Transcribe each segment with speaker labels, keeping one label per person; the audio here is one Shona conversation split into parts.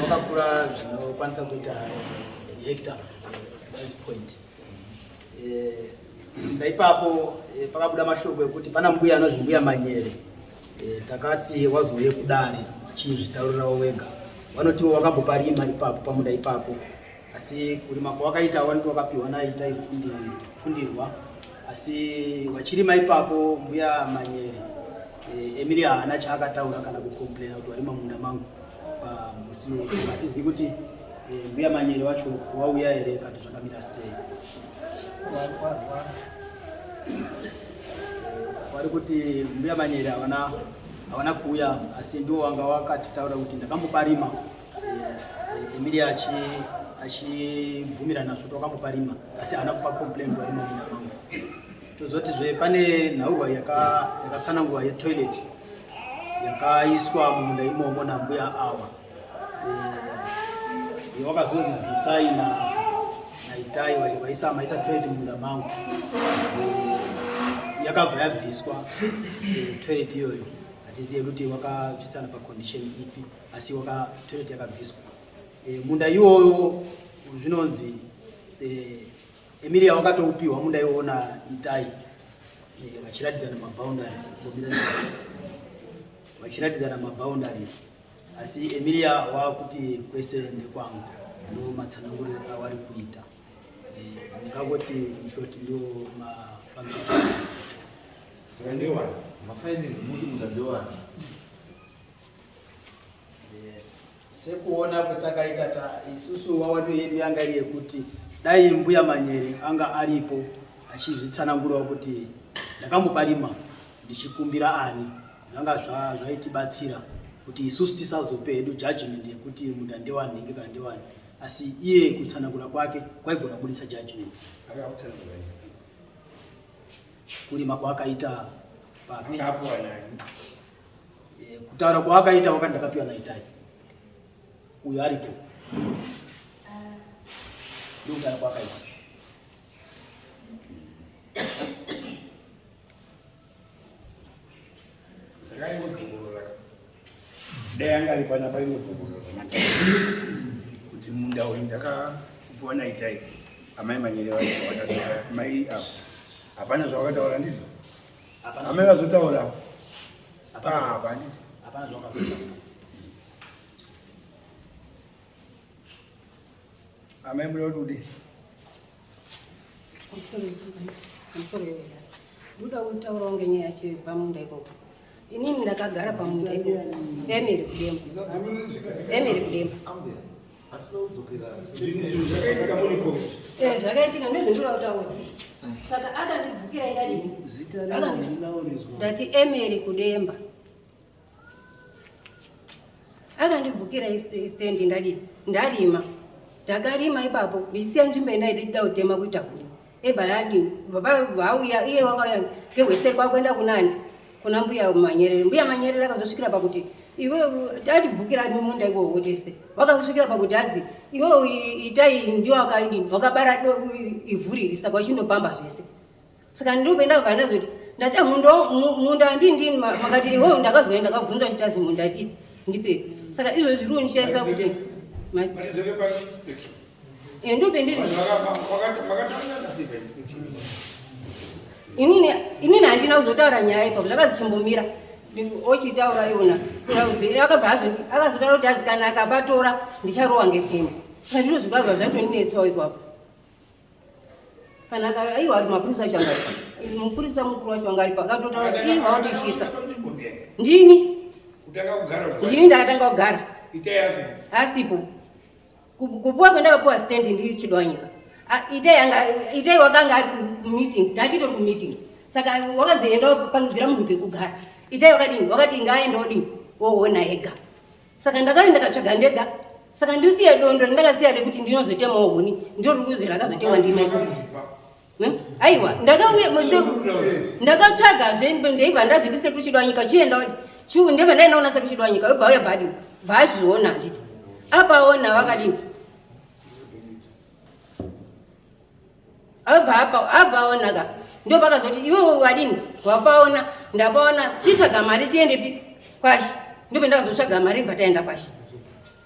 Speaker 1: Wakakura zvinokwanisa kuita hekta this point. Eh, ndaipapo eh, pakabuda mashoko ekuti pana mbuya anonzi mbuya Manyere. Eh, takati wazouye kudare chizvitaurirawo wega. Vanotiwo wakamboparima ipapo pamunda ipapo. asi kurima kwawakaita wanti wakapiwa naita fundirwa asi vachirima ipapo mbuya manyere e, emiri haana chaakataura kana kucomplaina kuti warima munda mangu pamusi wese hatizivi kuti e, mbuya manyere wacho wauya here kati zvakamira sei wari kuti mbuya manyere havana kuuya asi ndiwo wanga wakatitaura kuti ndakamboparima Emilia achi achibvumira nazvo kuti wakambopa rima asi haana kupa complain kuva rima munda mangu tozoti zve pane nhaurwa yakatsanangurwa yaka yetoilet yakaiswa mumunda imomo nambuya awa e, eh, wakazonzi bvisai naitai vaisa maisa toilet mumunda mangu e, yakabva yabviswa e, toilet iyoyo hatizive kuti wakabvisana pacondition ipi asi waka toilet yakabviswa e, munda iwoyo zvinonzi e, Emilia wakatoupiwa munda iwoyo na Itai e, vachiratidzana maboundaries vachiratidzana maboundaries asi Emilia wakuti kwese ndekwangu ndo matsananguriro awari kuita ndingangoti e, short ndo mafambiro saka ndewana
Speaker 2: mafinance muti muda ndewana
Speaker 1: sekuona kwatakaita ta isusu wawadu yedu yanga iri yekuti dai mbuya manyere anga aripo achizvitsanangurawo kuti ndakamboparima ndichikumbira ani zvanga zvaitibatsira zva kuti isusu tisazope hedu judgment yekuti munda ndewani nhingi kana ndewani asi iye kutsanangura kwake kwaigona kubudisa judgment kurima kwaakaita papi Eh, kutaura kwaakaita wakati ndakapiwa naitai uyo aripo ndokutaura kwaakaita
Speaker 3: dai anga ari pana paingodzongorora kuti munda uyu ndakakupiwa naitai amai manyere vaaa mai avo hapana zvavakataura ndizvo Amera zotaura. Hapana hapana.
Speaker 1: Hapana
Speaker 3: zvakazotaura. Amai mbuya
Speaker 4: kuti ndoda kutaurawo ngenyaya yacho pamunda ikoko inini ndakagara pamunda ikoko emiri kudemba emiri kudemba Eh, zvakaitika ndozvandinoda kutaura saka akandibvukira ndadii ndati emeri kudemba akandibvukira istendi ndadii ndarima ndakarima ipapo ndichisiya nzvimbo yendaidi kuda kutema kuita huni Eva yadi baba vauya iye wakauya ngehweseri kwakuenda kunani kuna mbuya manyerere mbuya manyerere akazosvikira pakuti iwe tatibvukira mumunda iwowo tese wakakusvikira pakuti azi iwe itai ndiwo akaidi wakabara ivhuriri saka uchindopamba zvese saka ndinopenda kubva ndazoti ndada munda andindini makati iwo ndakazoya ndakabvunza kuti azi munda dii ndipe saka izvo zviri kundishaisa kuti Iyo ndio pendeni. Inini inini handina kuzotaura nyaya ipapo zvakazichimbomira ochitaura iwona akabva azondi akazotaura kuti azi kana akapatora ndicharowa ngepfimba saka ndizvo zvikabva zvatoninetsawo ipapo kana aiwa ari mapurisa acho anga mupurisa mukuru wacho anga aripo akatotaura kuti ii vaotishisa ndini ndini ndakatanga kugara asipo kupuwa kwendakapuwa stand ndiri chidwanyika itai anga itai wakanga ari kumeeting tanditori kumeeting saka wakazoenda kupangidzira munhu pekugara itai wakadini wakati ngaaenda odini woona ega saka ndakati ndakatsvaga ndega saka ndisiya dondo ndakasiya rekuti ndinozotemawo huni ndiro rikuzi rakazotemwa ndimaikuti aiwa ndakauya ndakatsvaga zve ndaibva ndazviti sekuru chido wanyika chienda ndibva ndainaona sekuru chido wanyika obva uya bvadi bvaazviona nditi apaona vakadini abva apaona ka ndo pakazoti iwe wadini wapaona ndapaona chitsvaga mari tiendepi kwashi ndope ndakazotsvaga mari bva taenda kwashi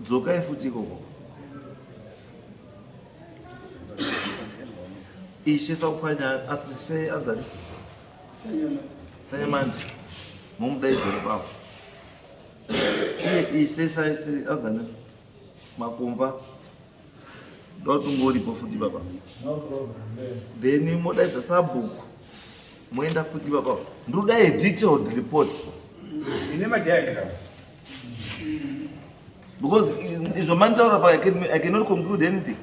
Speaker 2: dzokai futi ikoko ishe sakuphanya asi she anzani sanyamanje momudaidzere pavo iye ishe saisi anzani makumba ndotingoripo futi baba then modaidza sabhuku moenda futi baba ndodai detailed report ine
Speaker 3: madiagram
Speaker 2: because izvo manitaura pa i cannot conclude anything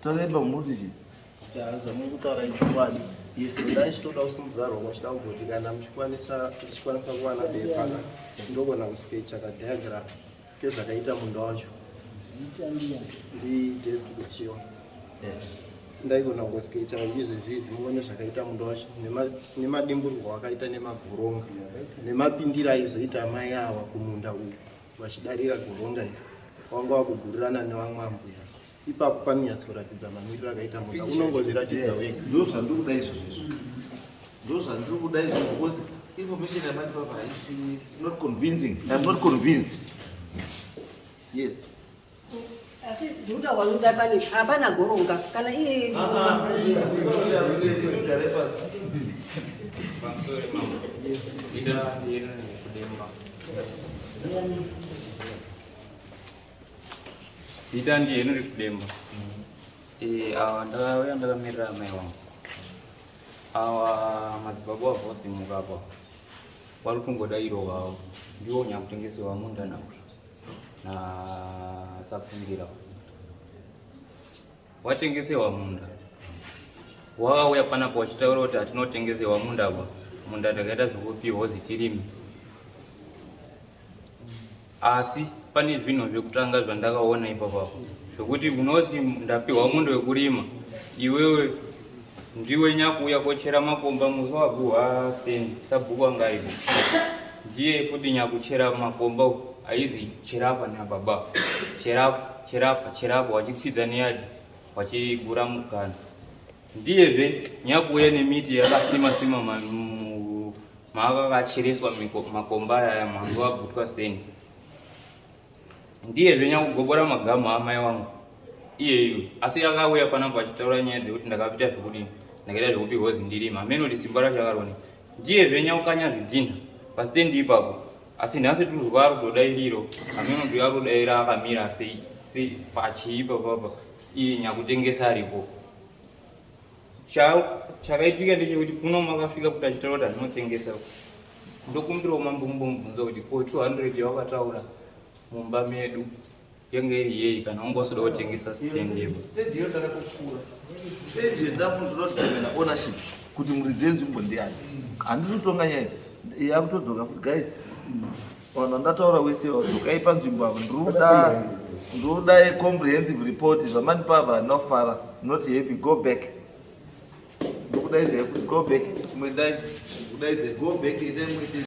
Speaker 2: tareba muti chii zvamuri kutaura ichokwadi izvo
Speaker 5: dai chitoda kusimudzarwa kwachida kugoti kana muchikwanisa kuwana bepa ndogona kuskecha kadiagram Kezvakaita munda wacho ndidetukutiwa ndaigona kungoskaita izvo zvizi muone zvakaita munda wacho nemadimburwa wakaita nemagoronga nemapindira aizoita amai awa kumunda uku vachidarira goronga iri wanga wakugurirana nevamwe ambuya ipapo panonyatsoratidza mamiriro akaita mota unongozviratidza wega ndo zvandiri kuda izvozvo
Speaker 2: izvo ndo zvandiri kuda izvo because information yamati papa haisi not convincing im not convinced yes
Speaker 4: asi zvokuta wanoda pane hapana goronga kana iye ah, ah, Yes.
Speaker 6: Zita ndiye nuri kudemba. Eh, awa ndakauya ndakamirira amai wangu. Awa madzibaba wavo vosimuka apa. Wari kutongoda iro wavo. Ndiwo nyakutengesewa munda nawo. Na sapfundira. Watengesewa munda. Wauya panapo wachitaura kuti hatinotengesewa munda apa. Munda takaita zvekupihwa zitirimi. asi pane zvinhu zvekutanga zvandakaona ipapa zvekuti unoti ndapihwa mundo wekurima iwewe ndiwe nyakuuya kochera makomba musi waguha sten sabhuku anga aipo ndiye futi nyakuchera makomba aizi cherapa nababa cherapa cherapa cherapa wachikwidza neyadi wachigura mukana Ndiyezve nyakuuya nemiti yakasima sima mava vachereswa makomba aya mwangu wabvutwa steni. Ndiyezve nyakugobora magamu amai wangu iyeyu asi yakauya panapa achitaura nyaya dzekuti ndakapita zvekudini ndakaita zvekupi hozi ndirima hameno kuti simba racho akarone ndiyezve nyakukanya zvidhinha pasitendi ipapo asi nhasi tuzwa ari kudoda iriro hameno kuti ari kudaira akamira sei pachii papapa Iyi nyakutengesa aripo. Chakaitika ndechekuti kuno makafika kuti achitaura kuti anotengesa. Ndokumbirawo mambo mumbomubvunza kuti ko 200 yawakataura mumba medu yanga iri yei kana ungosoda kutengesa stand yepo. Stage iyo tara kukura.
Speaker 2: Stage yedafu ndinotemera ownership kuti muridzi wenzvimbo ndiani. Handisi kutonga nyaya. Yakutodzoka guys. Vanhu vandataura wese vadzokai panzvimbo avo ndiriuda ndiriuda comprehensive report zvamandipa ava ndinofara not happy go back ndikudaidza kuti go back chimwe dai kudaidza go back itai mwete